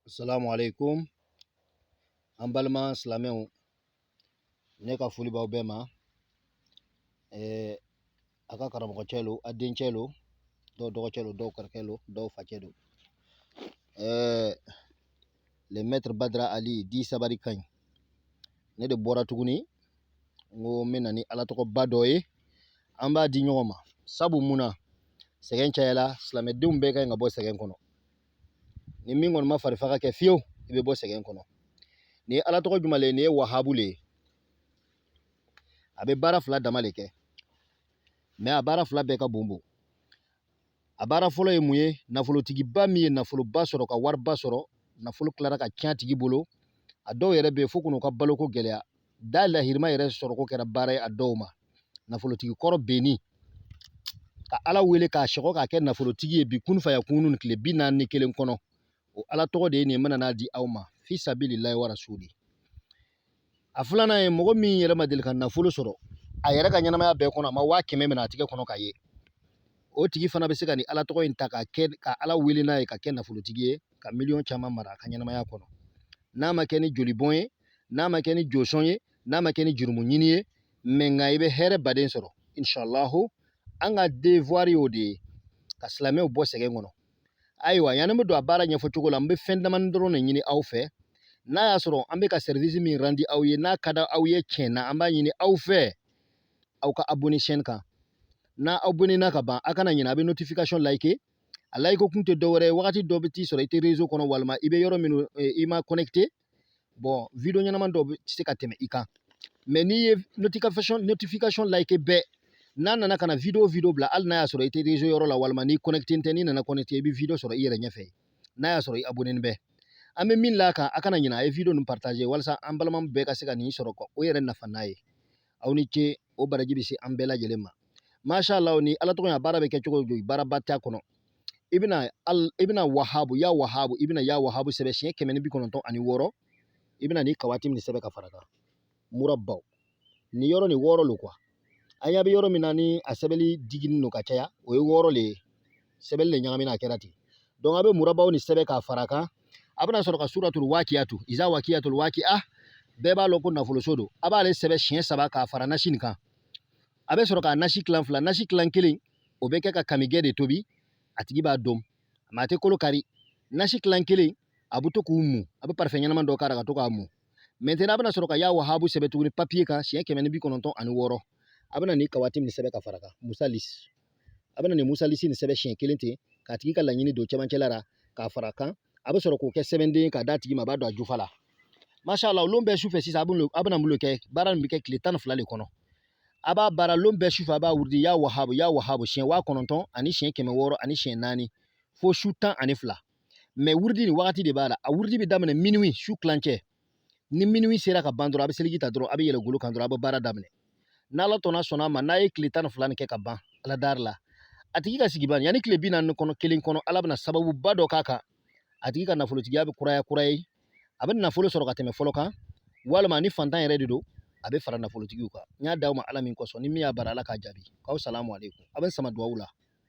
Assalamu alaikum an balima silamɛw ne ka foli b'aw bɛɛ ma a ka karamɔgɔcɛ lo a dencɛ lo dɔw dɔgɔcɛ lo dɔw kɔrɔkɛ lo dɔw facɛ lo le maître Badra Ali dit sabari ka ɲi ne de bɔra tuguni n ko n bɛ na ni ala tɔgɔba dɔ ye an b'a di ɲɔgɔn ma sabu mun na sɛgɛn cayala silamɛdenw bɛɛ ka ɲi ka bɔ sɛgɛn kɔnɔ ni min kɔni ma farifaga kɛ fiyewu i bɛ bɔ sɛgɛn kɔnɔ ni ye ala tɔgɔ jumɛn le ye nin ye wahabu le ye a bɛ baara fila dama le kɛ mais a baara fila bɛɛ ka bon bon a baara fɔlɔ ye mun ye nafolotigiba min ye nafoloba sɔrɔ ka wariba sɔrɔ nafolo tilara ka tiɲɛ a tigi bolo a dɔw yɛrɛ bɛ yen fo k'u ka baloko gɛlɛya dalahirima yɛrɛ sɔrɔko kɛra baara ye a dɔw ma nafolotigi kɔrɔ bennin ka ala wele k'a sɔgɔ k'a kɛ nafolotigi ye bi kunfaya kunun tile bi naani ni kelen kɔnɔ o ala tɔgɔ de ye nin ye n bɛna n'a di aw ma fi sabilillahi wa rasuli a filanan ye mɔgɔ min yɛrɛ ma deli ka nafolo sɔrɔ a yɛrɛ ka ɲɛnamaya bɛɛ kɔnɔ a ma waa kɛmɛ minɛ a tigɛ kɔnɔ ka ye o tigi fana bɛ se ka nin ala tɔgɔ in ta ka kɛ ka ala wele n'a ye ka kɛ nafolotigi ye ka miliyɔn caman mara a ka ɲɛnamaya kɔnɔ n'a ma kɛ ni jolibɔn ye n'a ma kɛ ni josɔn ye n'a ma kɛ ni jurumu ɲini ye mais nka i bɛ hɛrɛba de sɔrɔ inshallahu an ka devoir y'o de ye ka silamɛw bɔ sɛgɛn kɔnɔ ayiwa yanni n bɛ don a baara ɲɛfɔ cogo la n bɛ fɛn damani dɔrɔn de ɲini aw fɛ n'a y'a sɔrɔ an bɛ ka service min randi aw ye n'a ka di aw ye tiɲɛ na an b'a ɲini aw fɛ aw ka abonné chaîne kan n'a abonné na ka ban a kana ɲinɛ a bɛ notification liker a layike kun tɛ dɔwɛrɛ ye wagati dɔ bɛ t'i sɔrɔ i tɛ rezo kɔnɔ walima i bɛ yɔrɔ minnu eh, i ma kɔnɛkite bɔn video ɲɛnama dɔ bɛ se ka tɛmɛ i kan mais n'i ye notification notification layike bɛɛ n'a nana ka na video video bila hali n'a y'a sɔrɔ i tɛ rezo yɔrɔ la walima n'i kɔnɛkite tɛ n'i nana kɔnɛkite i bɛ video sɔrɔ i yɛrɛ ɲɛfɛ n'a y'a sɔrɔ i abonɛnin bɛ an bɛ min l'a kan a kana ɲina a ye video ninnu partage walasa an balima bɛɛ ka se ka nin sɔrɔ k'u yɛrɛ nafa n'a ye aw ni ce o baraji bɛ se an bɛɛ lajɛlen ma masha Allah ni ala tɔgɔ ya baara bɛ kɛ cogo di baaraba t'a kɔnɔ i bɛna i bɛna wahabu ya wahabu i bɛna ya wahabu sɛbɛn siɲɛ kɛmɛ ni bi kɔnɔntɔn ani wɔɔrɔ i bɛna ni kawatimi nin sɛbɛn ka fara kan muraba ni yɔrɔ ni wɔɔrɔ lo quoi an ɲɛ bɛ yɔrɔ min na ni a sɛbɛnli digini don ka caya o ye wɔɔrɔ le ye sɛbɛnni le ɲagamina a kɛra ten donc a bɛ muraba ni sɛbɛn k'a fara kan a bɛna sɔrɔ ka suratul wakiyatu iza wakiyatul wakiya bɛɛ b'a lɔn ko nafoloso don a b'ale sɛbɛn siɲɛ saba k'a fara nasi nin kan a bɛ sɔrɔ ka nasi tilan fila nasi tilan kelen o bɛ kɛ ka kamigɛ de tobi a tigi b'a dun mais a tɛ kolo kari nasi tilan kelen a bɛ to k'o mu a bɛ parfum ɲɛnama dɔ k'a la ka to k'a mu maintenant a bɛna sɔrɔ ka ya wahabu sɛbɛn tuguni papiye kan siɲɛ kɛmɛ ni bi kɔnɔntɔn ani wɔɔrɔ a bɛna nin kawatimi sɛbɛn ka fara kan musalis a bɛna nin musalisi nin sɛbɛn siɲɛ kelen ten k'a tigi ka laɲini don cɛmancɛla la k'a fara a kan a bɛ sɔrɔ k'o kɛ sɛbɛnden k'a d'a tigi ma a b'a don a jufa la masha Allah lon bɛɛ sufɛ sisan a bɛna mun de kɛ baara nin bɛ kɛ tile tan ni fila de kɔnɔ a b'a baara lon bɛɛ sufɛ a b'a wurudi ya wahabu ya wahabu siɲɛ waa kɔnɔntɔn ani siɲɛ kɛmɛ wɔɔrɔ ani siɲɛ naani fo su tan ani fila mɛ wurudi nin wagati de b'a la a wurudi bɛ daminɛ minuwi su tilancɛ ni minuwi sera ka ban dɔrɔn a bɛ seliji ta dɔrɔn a bɛ yɛlɛ golo kan dɔrɔn a bɛ baara daminɛ n'ala sɔnna a ma n'a ye tile tan ni fila nin kɛ ka ban ala dari la a tigi ka sigi ban yanni tile bi naani ni kelen kɔnɔ ala bɛna sababuba dɔ k'a kan a tigi ka nafolotigiya bɛ kuraya kura ye a bɛ nafolo sɔrɔ ka tɛmɛ fɔlɔ kan walima ni fantan yɛrɛ de don a bɛ fara nafolotigiw kan n y'a d'aw ma ala min kosɔn ni min y'a baara ala k'a jaabi k'aw salamu aleykum a bɛ sama dugawu la